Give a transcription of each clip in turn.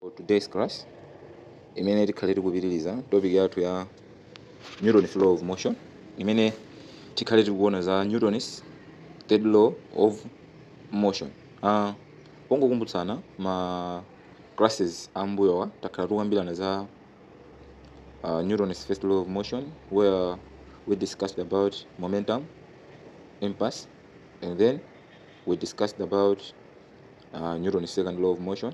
For today's class, imene tikhale tikupitiriza topic yathu ya Newton's law of motion, imene tikhale tikuona za Newton's third law of motion. Uh, pongokumbutsana ma classes ambuyowa takhala tikukambirana za uh, Newton's first law of motion where we discussed about momentum, impulse, and then we discussed about uh, Newton's second law of motion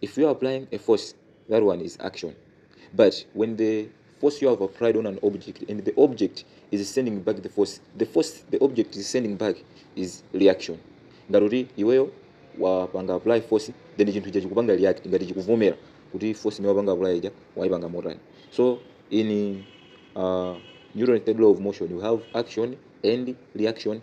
If you are applying a force, that one is action. But when the force you have applied on an object and the object is sending back the force, the force the object is sending back is reaction. Ngati kuti iweyo wapanga apply force then chinthu icho chikupanga react ngati chikuvomera kuti force imene wapanga apply ija waipanga motani. So in uh, Newton's third law of motion you have action and reaction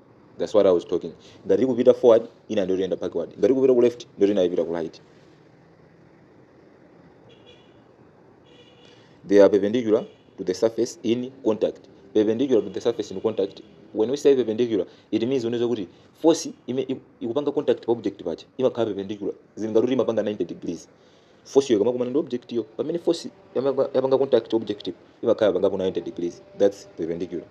That's what I was talking. Ngati ili kupita forward, ina ndiye kuti iyenda backward. Ngati ili kupita ku left, ndiye kuti ina ipita ku right. They are perpendicular to the surface in contact. Perpendicular to the surface in contact. When we say perpendicular, it means uwona zakuti force imene ikupanga contact pa object paja. Imakhala perpendicular. Zili ngati kuti imapanga 90 degrees. force yo ikamakumana ndi object yo pamene force yamanga- yapanga contact object yo imakhala yapangapo 90 degrees that's perpendicular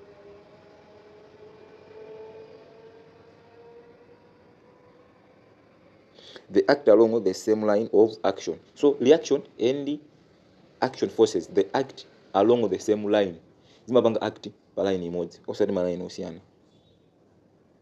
they act along the same line of action so reaction and action forces they act along the same line zimapanga act pa line imodzi osati ma line osiyana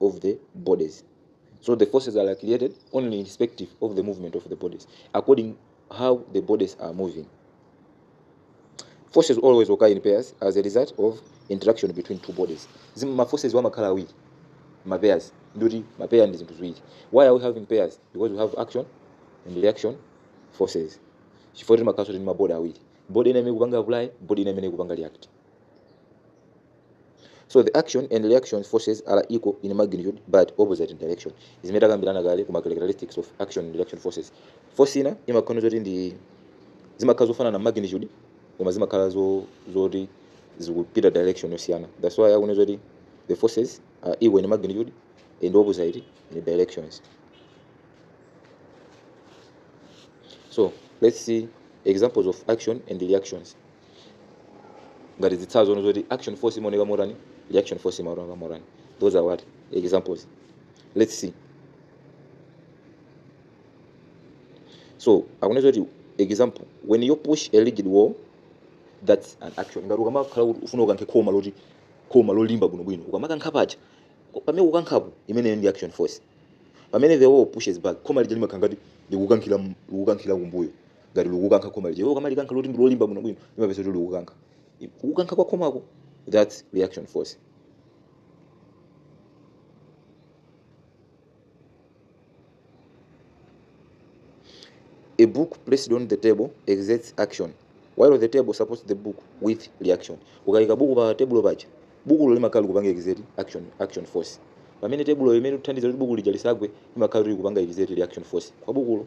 of the bodies so the forces are created only irrespective of the movement of the bodies according how the bodies are moving forces always occur in pairs as a result of interaction between two bodies Zim- ma forces wa amakhala awiri ma pairs ndiye kuti ma pair ndi zinthu ziwiri why are we having pairs because we have action and reaction forces chifukwa timakhalanso tili ndi mabodi awiri bodi ina imene ikupanga apply bodi ina imene ikupanga react so the action and reaction forces are equal in magnitude but opposite in direction zimene takambirana kale kuma characteristics of action and reaction forces force ina imakhala zoti ndi zimakhala zofanana magnitude koma zimakhala zo zoti zikupita direction yosiyana that's why akunena zoti the forces are equal in magnitude and opposite in directions so let's see examples of action and reactions ngati zitsanzo zoona zoti action force imaoneka motani reaction force imaoneka motani those are what examples let's see so akunena kuti example when you push a rigid wall that's an action ngati ukamakhala kuti ufuna ukankhe khoma loti khoma lolimba bwinobwino ukamakankha paja pamene ukukankhapo imeneyo ndi action force pamene the wall pushes back khoma lija limakhala ngati likukankhira likukankhira kumbuyo ngati likukankha khoma lija iwe ukamalikankha loti ndilolimba bwinobwino limapeza kuti likukankha kukankha kwa khomako that's reaction force A book placed on the table exerts action while the table supports the book with reaction. Ukaika buku pa tebulo paja, bukulo limakhala likupanga exert action, action force. Pamene tebulo imene ikuthandiza kuti buku lija lisagwe imakhala kuti likupanga exert reaction force kwa bukulo.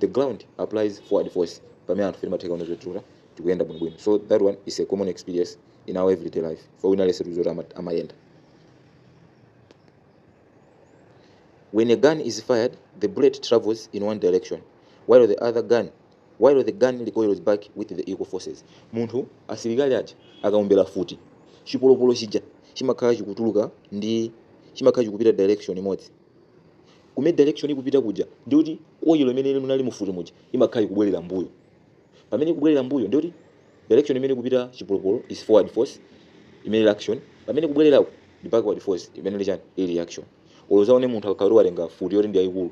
the ground applies forward force pamene anthu timatheka kuona zoti tikutha tikuyenda bwinobwino so that one is a common experience in our everyday life for wina aliyense tikudziwa kuti ama- amayenda when a gun is fired the bullet travels in one direction while the other gun while the gun recoils back with the equal forces munthu asilikali aja akaombera futi chipolopolo chija chimakhala chikutuluka ndi chimakhala chikupita direction imodzi kumene direction ikupita kuja ndiye kuti koyilo imene ili munali mufuti muja imakhala ikubwerera mbuyo pamene ikubwerera mbuyo ndiye kuti direction imene ikupita chipolopolo is forward force imene ili action pamene kubwererako ndi backward force imene ili chani ili reaction olo uzaone munthu akakhala kuti watenga futi yoti ndi yayikulu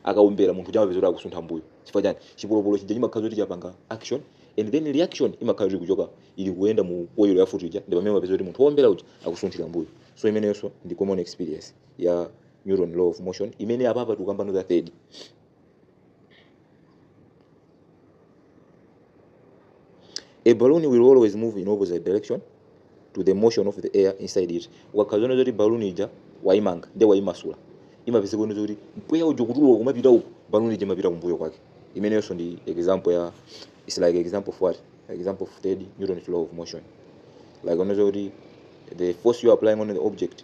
akaombera munthu uja amapeza kuti akusuntha mbuyo chifukwa chani chipolopolo chija chimakhala kuti chapanga action and then reaction imakhala kuti kuchoka ili kuyenda mu koyilo ya futi ija ndi pamene amapeza kuti munthu wowombera uja akusunthira mbuyo so imeneyonso ndi common experience ya Newton law of motion imene apapa tikukambano za third a balloon will always move in opposite direction to the motion of the air inside it ukakhala uzaone zoti balloon ija waimanga ndiye waimasula umapeza uone zoti mpweya uja kutuluka kumapita uku balloon ija imapita kumbuyo kwake imeneyonso ndi example ya it's like example of what example of third Newton law of motion like kunena kuti the force you are applying on the object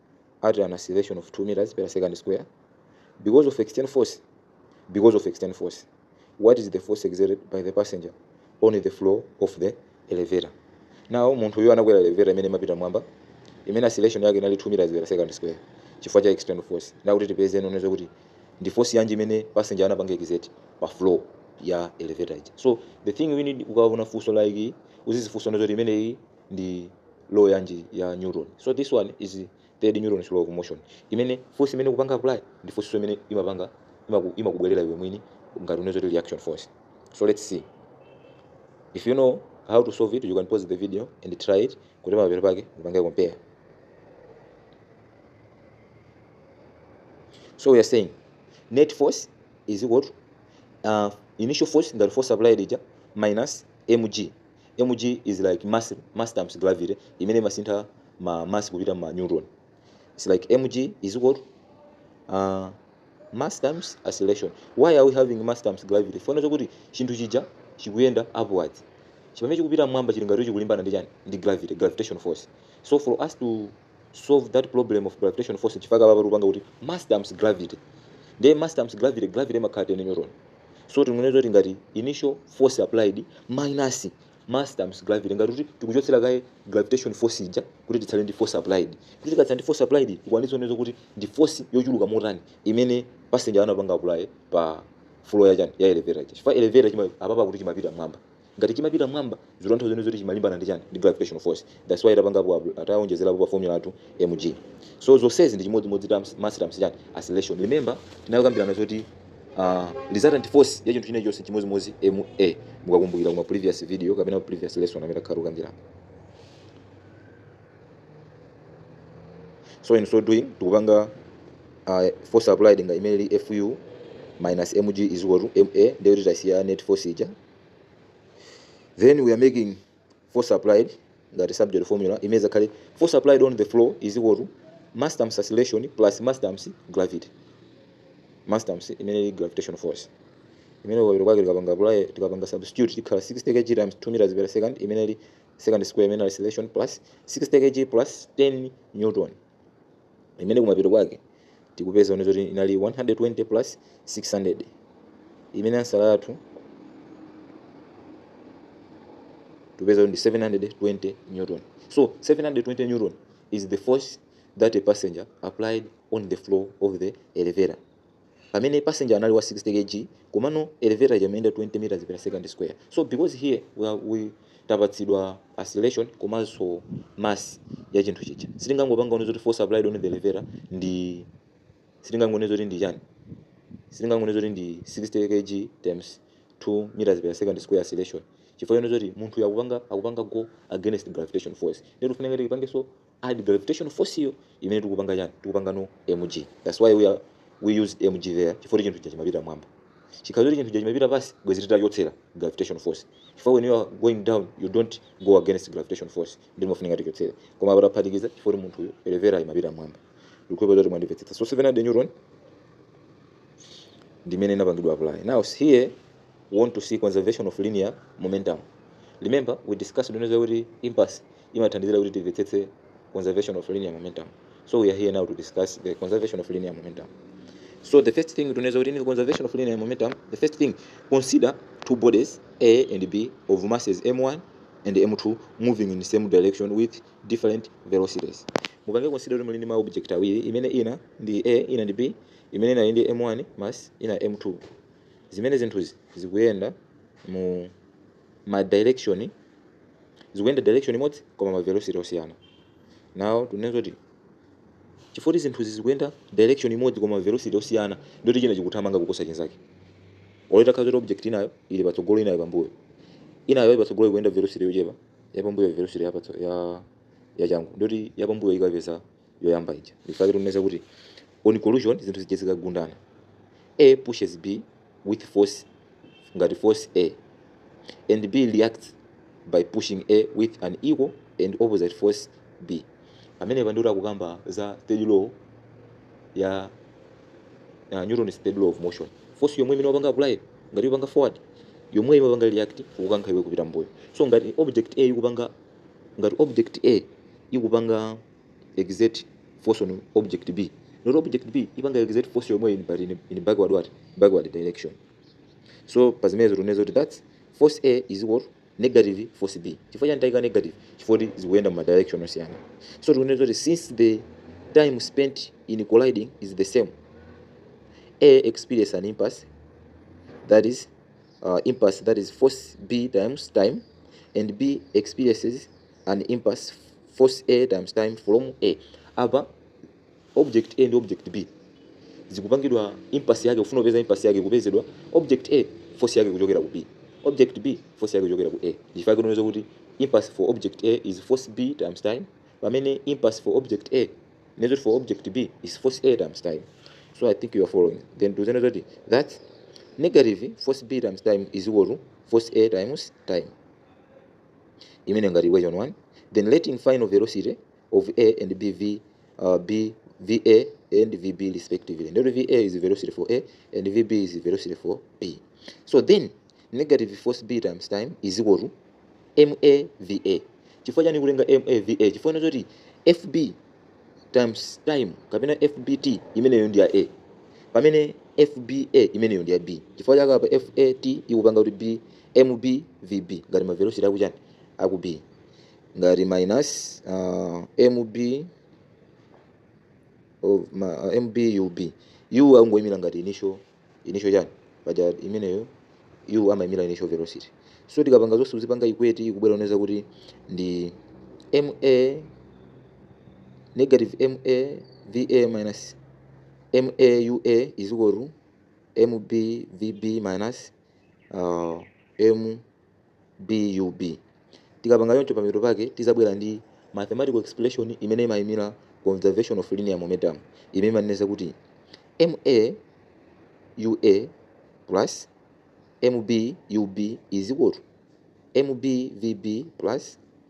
at an acceleration of 2 meters per second square because of external force because of external force what is the force exerted by the passenger on the floor of the elevator now munthu uyu anakwera elevator imene imapita mwamba imene acceleration yake inali 2 meters per second square chifukwa cha external force ndiye akuti tipeze kunena kuti ndi force yanji imene passenger anapanga exert pa floor ya elevator ija so the thing we need ukaona funso like uzizifunsa kunena zoti imeneyi ndi law yanji ya newton so this one is third newton's law of motion imene force imene kupanga apply ndi force imene imapanga imaku- imakubwerera iwe mwini ngati unezoti reaction force so let's see if you know how to solve it you can pause the video and try it kuti pamapeto pake upange compare so we are saying net force is equal to uh, initial force ngati force applied ija minus mg Mg is like mass mass times gravity imene imasintha ma mass kupita ma newton it's like mg is equal to uh, mass times acceleration why are we having mass times gravity chifukwa chakuti chinthu chija chikuyenda upwards chimene chikupita mmwamba chili ngati chikulimbana ndi chani ndi gravity gravitation force so for us to solve that problem of gravitation force chifukwa chake apapa tikupanga kuti mass times gravity ndiye mass times gravity gravity imakhala 10 newton so tingonena zoti ngati initial force applied minus mass times gravity ngati kuti tikuchotsera kaye gravitation force ija kuti titsale ndi force applied kuti tikatsala ndi force applied tikwanitsa kunena zoti ndi force yochuluka motani imene passenger anapanga apply pa floor ya chani ya elevator ija chifukwa elevator apapa akuti chimapita mmwamba Ngati chimapita mmwamba zikutanthauza kunena zoti chimalimbana ndi chani? Ndi gravitational force. That's why tapangapo a taonjezerapo pa formula yathu mg. So zonsezi ndi chimodzimodzi times mass times chani? Acceleration. Remember tinakambirana zoti ah, resultant force ya chinthu chinachonse chimodzimodzi ma mukakumbukira mu ma previous video kapena previous lesson amene takhala tikukambirana. So in so doing tikupanga uh, force applied ija imene ili fu minus mg is equal to ma ndiye kuti tasiya net force ija then we are making force applied ngati subject formula imene zakhale force applied on the floor is equal to mass times acceleration plus mass times gravity mass times imene ili gravitational force imene ukapita kwake tikapanga apply tikapanga substitute tikhala 60 kg times 2 meters per second imene ili second square imene acceleration plus 60 kg plus 10 newton imene kumapeto kwake tikupeza kunena zoti inali 120 plus 600 imene ansala yathu tikupeza kuti ndi 720 newton so 720 newton is the force that a passenger applied on the floor of the elevator pamene passenger anali wa 60 kg komano elevator ija imayenda 20 meters per second square so because here we, are, we tapatsidwa acceleration komanso mass ya chinthu chija sitingangopanga kunena zoti force applied on the elevator ndi sitingangonena zoti ndi chani sitingangonena zoti ndi 60 kg times 2 meters per second square acceleration chifukwa chonena zoti munthuyo akupanga akupanga go against gravitation force ndiye kufunika tipange so add gravitation force yo imene tikupanga chani tikupanga denote mg that's why we are we used mg there chifukwa chinthu chija chimapita mmwamba chikakhala zoti chinthu chija chimapita pansi bwezi titachotsera gravitation force chifukwa when you are going down you don't go against gravitation force ndiye timafunika tichotsere koma apa taphatikiza chifukwa munthu uyu elevator imapita mmwamba ndikupempha kuti mwandimvetsetsa so 700 newton ndimene inapangidwa apply now here we want to see conservation of linear momentum remember we discussed kunena zoti impulse imathandizira kuti timvetsetse conservation of linear momentum so we are here now to discuss the conservation of linear momentum so the first thing tinene zoti in conservation of linear momentum the first thing consider two bodies a and b of masses m1 and m2 moving in the same direction with different velocities mupange consider kuti muli ndi ma object awiri imene ina ndi a ina ndi b imene ina ndi m1 mass ina m2 zimene zinthuzi zikuyenda mu ma direction zikuyenda direction imodzi koma ma velocity osiyana now tinene zoti chifukwa kuti zinthuzi zikuyenda direction imodzi koma ma velocity osiyana ndiye kuti china chikuthamanga kuposa chinzake olo itakhala zoti object inayo ili patsogolo inayo pambuyo inayo ili patsogolo ikuyenda velocity yochepa yapambuyo velocity yapatso ya yachangu ndiye kuti yapambuyo ikapeza yoyamba ija ndichifukwa tikuneneza kuti on collision zinthu zija zikagundana a pushes b with force ngati force a and b reacts by pushing a with an equal and opposite force b amene pandoti akukamba za third law ya uh, Newton's third law of motion force yomwe imene wapanga apply ngati wapanga forward yomwe imapanga react kukankha iwe kupita mbuyo so ngati object a ikupanga ngati object a ikupanga exert force on object B not object B ipanga exert force yomwe in but in, in backward what backward direction so pa zimenezo tunene zoti that's force A is equal to negative force B chifukwa chani taika negative chifukwa kuti zikuyenda mu direction osiyana so tunene zoti since the time spent in colliding is the same A experience an impulse that is uh, impulse that is force B times time and B experiences an impulse force a times time from a apa object a ndi object b zikupangidwa impulse yake kufuna kupeza impulse yake kupezedwa object a force yake kuchokera ku b object b force yake kuchokera ku a ndichifukwa tikuneneza kuti impulse for object a is force b times time pamene impulse for object a measured for object B is force A times time. So I think you are following. Then to say that negative force B times time is equal to force A times time. imene ngati equation 1 then let in final velocity of a and bv uh, b va and vb respectively ndikuti va is velocity for a and vb is velocity for b so then negative force b times time is equal to ma va chifukwa chani kutenga ma va chifukwa choti fb times time kapena fbt imeneyo ndi ya a pamene fba imeneyo ndi ya b chifukwa chake apa fat ikupanga kuti b mb vb ngati ma velocity akuchani aku b ngati minus uh, mb of ma, uh, mb ub u akungoyimira ngati initial initial chani paja imeneyo u amaimira initial velocity so tikapanga zonse uzipanga equate ikubwera uneneza kuti ndi ma negative ma va minus ma ua is equal to mb vb minus uh, m BUB. Tikapanga choncho pamapeto pake tizabwera ndi mathematical expression imene imayimira conservation of linear momentum imene imaneneza kuti MA UA plus MB UB is equal to MB VB plus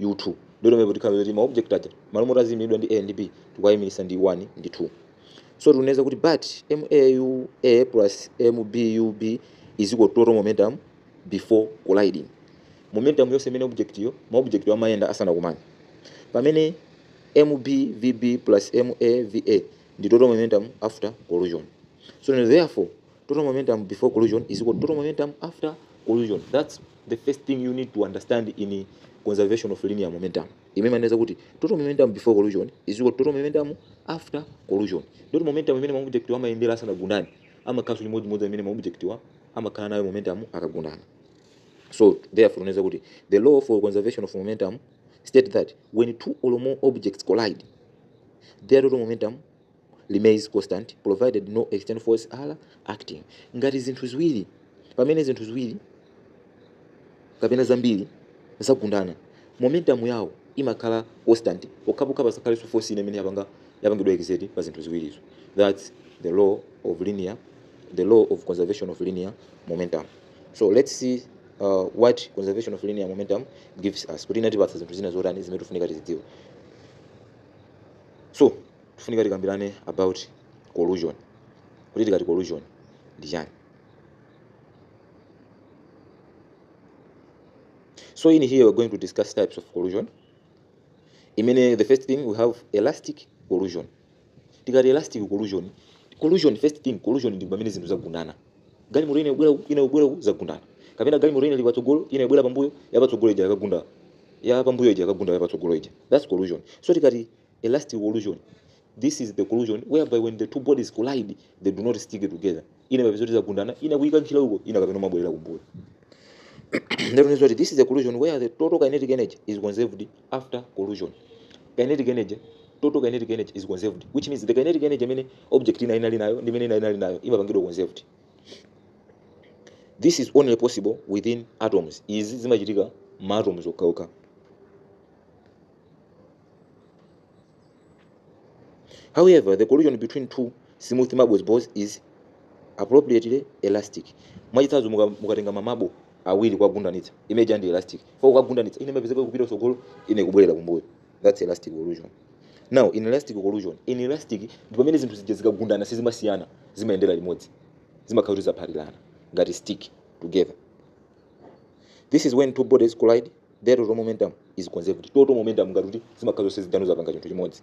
u2 ndiye pamene potikhala zoti ma object aja malo moti aziyimiridwa ndi a ndi b tikuwayimirisa ndi 1 ndi 2 so tikuneza kuti but ma ua plus mbub is equal to total momentum before colliding momentum yonse imene object yo ma object yo amayendera asanakumane pamene mb vb plus ma va ndi total momentum after collision so therefore total momentum before collision is equal to total momentum after collision that's the first thing you need to understand in conservation of linear momentum imene maneza kuti total momentum before collision is equal to total momentum after collision total momentum imene maobject amayendera asanagundane amakhala chimodzimodzi imene maobject wa amakhala nayo momentum akagundana so therefore unaweza kuti the law for conservation of momentum state that when two or more objects collide their total momentum remains constant provided no external force are acting ngati zinthu ziwiri pamene zinthu ziwiri kapena zambiri zagundana momentum yawo imakhala constant pokhapokha pasakhalenso force ina imene yapanga yapangidwa exert pa zinthu ziwirizo that's the law of linear the law of conservation of linear momentum so let's see uh, what conservation of linear momentum gives us kuti imatipatsa zinthu zina zotani zimene tifunika tizidziwe so Tifunika tikambirane about collision. Kuti tikati collision ndi chani? So in here we're going to discuss types of collision. Imene the first thing we have elastic collision. Tikati elastic collision, collision first thing collision ndi pamene zinthu zagundana. Galimoto ina ikubwera uku, ina ikubwera uku zagundana. Kapena galimoto ina ili patsogolo, ina ikubwera pambuyo, yapatsogolo ija yakagunda. Ya pambuyo ija yakagunda yapatsogolo ija. That's collision. So tikati elastic collision this is the collision whereby when the two bodies collide they do not stick together ina imapeza kuti zagundana ina kuikankhira uko ina kapena imabwerera kumbuyo That means what this is a collision where the total kinetic energy is conserved after collision. Kinetic energy, total kinetic energy is conserved, which means the kinetic energy imene object ina inali nayo ndi imene ina inali nayo imapangidwa conserved. This is only possible within atoms. Izi zimachitika ma atoms okhaokha. However, the collision between two smooth marbles balls is appropriately elastic. Mwachitsanzo muka- mukatenga mamabo awiri kuwagundanitsa imene ija ndi elastic. Chifukwa kuwagundanitsa ina imapezeka kupita kutsogolo ina kubwerera kumbuyo. That's elastic collision. Now inelastic collision, inelastic ndi pamene zinthu zija zikagundana sizimasiyana, zimayendera limodzi. Zimakhala kuti zaphatirana ngati stick together. This is when two bodies collide Their total momentum is conserved. Total momentum ngati kuti zimakhala zonse zija zapanga chinthu chimodzi.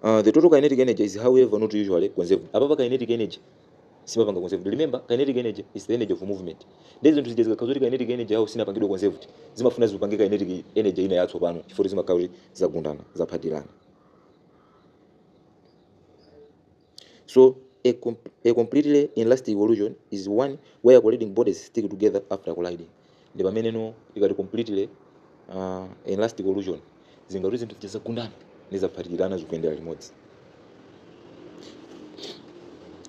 Uh, the total kinetic energy is however not usually conserved. Apapa kinetic energy simapanga conserved. Remember kinetic energy is the energy of movement. Nde zinthu zija zikakhala zoti kinetic energy yawo sinapangidwa conserved. Zimafuna zipange kinetic energy ina yatsopano chifukwa zimakhala kuti zagundana, zaphatirana. So a, a completely elastic evolution is one where colliding bodies stick together after colliding. Ndi pamene no ikati completely uh, elastic evolution zingati zinthu zizagundana nizaphatikirana zikuyendera limodzi.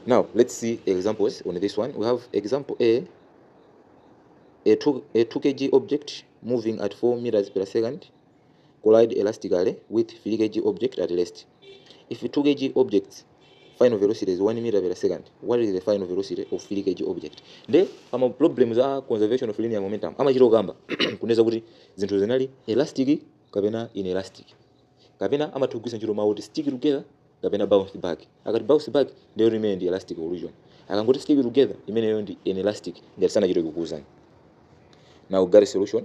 Now let's see examples on this one. We have example A a 2, a 2 kg object moving at 4 meters per second collide elastically with 3 kg object at rest. If 2 kg object's final velocity is 1 meter per second, what is the final velocity of 3 kg object? Nde ama problems a conservation of linear momentum amachita kukamba kunena kuti zinthu zinali elastic kapena inelastic kapena amatha kugwiritsa ntchito mawu kuti stick together kapena bounce back akati bounce back ndiye kuti imeneyo ndi elastic collision akangoti stick together imeneyo ndi inelastic ngati sanachite kukuuzani now got a solution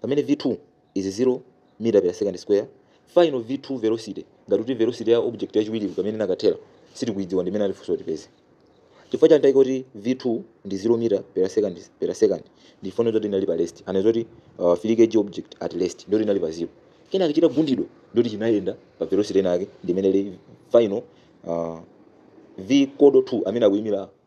pamene v2 is 0 meter per second square final v2 velocity ngati kuti velocity ya object yachiwiri pamene inakathera sitikuidziwa ndi imene atifunsa tipeze chifukwa chani taika kuti v2 ndi 0 meter per second per second ndi chifukwa choti inali pa rest anatiuza kuti uh, 3 kg object at rest ndoti inali pa 0 kenaka chitagundidwa ndoti chinayenda pa velocity inake ndi imene ili final uh, v kodo 2 amene akuimira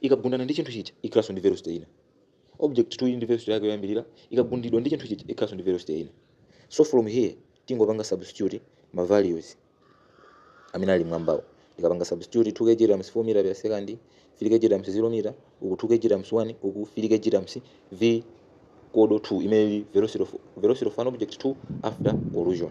ikagundana ndi chinthu chija ikhalanso ndi velocity ina object 2 ili ndi velocity yake yoyambirira ikagundidwa ndi chinthu chija ikhalanso ndi velocity ina so from here tingopanga substitute ma values amene ali mwambawo tikapanga substitute 2 kg times 4 meter per second plus 3 kg times 0 meter uku 2 kg times 1 uku 3 kg times v equal to 2 imene ili velocity of, velocity of an object 2 after collision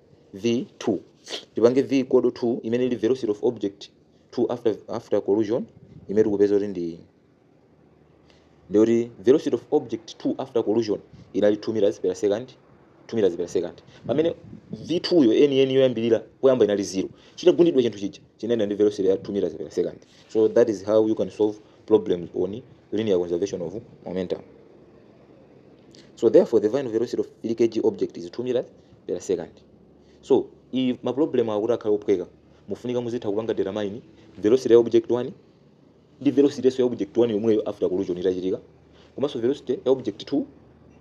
v2 tipange v equal to 2 imene ili velocity of object 2 after after collision imene tikupeza kuti ndiyoti velocity of object 2 after collision inali 2 meters per second 2 meters per second pamene v2 yo yeniyeni yoyambirira poyamba inali 0 chitagundidwa chinthu chija chinayenda ndi velocity ya 2 meters per second so that is how you can solve problems on linear conservation of momentum. So therefore, the final velocity of 3 kg object is 2 meters per second. So ife ma problem akuti akhale ophweka mufunika muzitha kupanga determine velocity ya object 1 ndi velocity yakenso ya object 1 yomweyo after collision itachitika komanso velocity ya object 2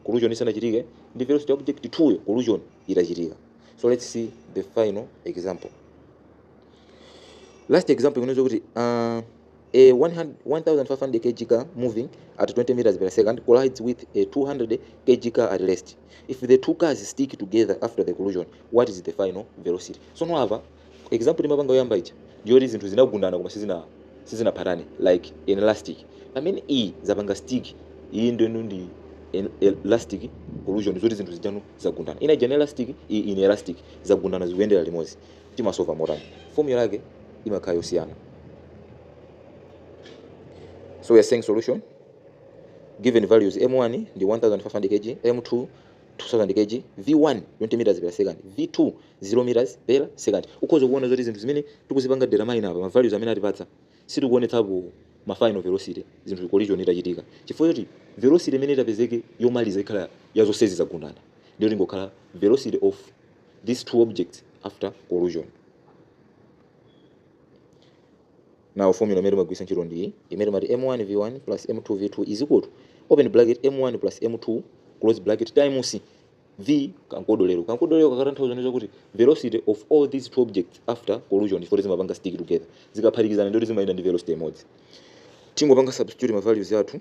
collision isanachitike ndi velocity ya object 2 yo collision itachitika. So let's see the final example. Last example inaweza kuti uh, A 100 1,500 kg car moving at 20 meters per second collides with a 200 kg car at rest. If the two cars stick together after the collision, what is the final velocity? Sono apa example imapanga yoyamba ija ndiyoti zinthu zinagundana koma sizina sizinaphatane like inelastic. Pamene iyi zapanga stick iyi ndiyeno ndi inelastic collision zoti zinthu zijano zagundana. Ina ija ndi elastic iyi inelastic zagundana zikuyendera limodzi. timasolva motani? Formula yake imakhala yosiyana. So we are saying solution given values m1 ndi 1500 kg, m2 2000 kg, v1 20 meters per second, v2 0 meters per second. Ukhoza kuona zoti zinthu zimene tikuzipanga determine apa ma values amene atipatsa sitikuonetsapo ma final velocity zinthu collision itachitika. Chifukwa choti velocity imene itapezeke yomaliza ikhala ya zonse zitagundana. Ndiye ingokhala velocity of these two objects after collision now formula imene timagwiritsa ntchito ndi iyi imene timati m1 v1 plus m2 v2 is equal to open bracket m1 plus m2 close bracket times v ka uncoded ero kankodolero kakutanthauza ndi zakuti velocity of all these two objects after collision chifukwa zimapanga stick together zikaphatikizana ndikuti zimayenda ndi velocity imodzi tingopanga substitute ma values athu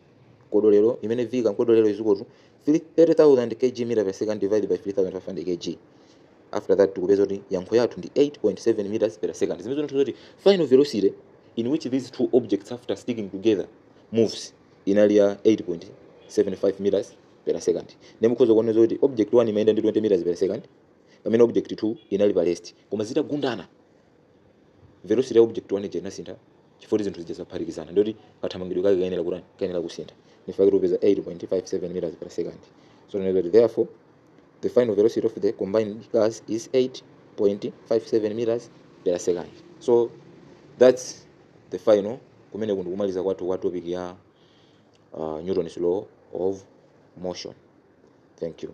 kodolero imene v kamkodolero is equal to 30000 kg meter per second divided by 3500 kg after that tikupeza kuti yankho yathu ndi 8.7 meters per second zimene zikutanthauza kuti final velocity in which these two objects after sticking together moves inali ya 8.75 meters per second nde mukhoza kuona kuti object 1 imayenda ndi 20 meters per second pamene object 2 inali pa rest koma zitagundana velocity ya object 1 ija inasintha chifukwa choti zinthu zija zaphatikizana nde kuti kathamangidwe kake kayenera kutani kayenera kusintha ndichifukwa chake tikupeza 8.57 meters per second so tinene kuti therefore the final velocity of the combined cars is 8.57 meters per second so that's the final kumeneku ndi kumaliza kwathu kwa topic ya uh, Newton's law of motion thank you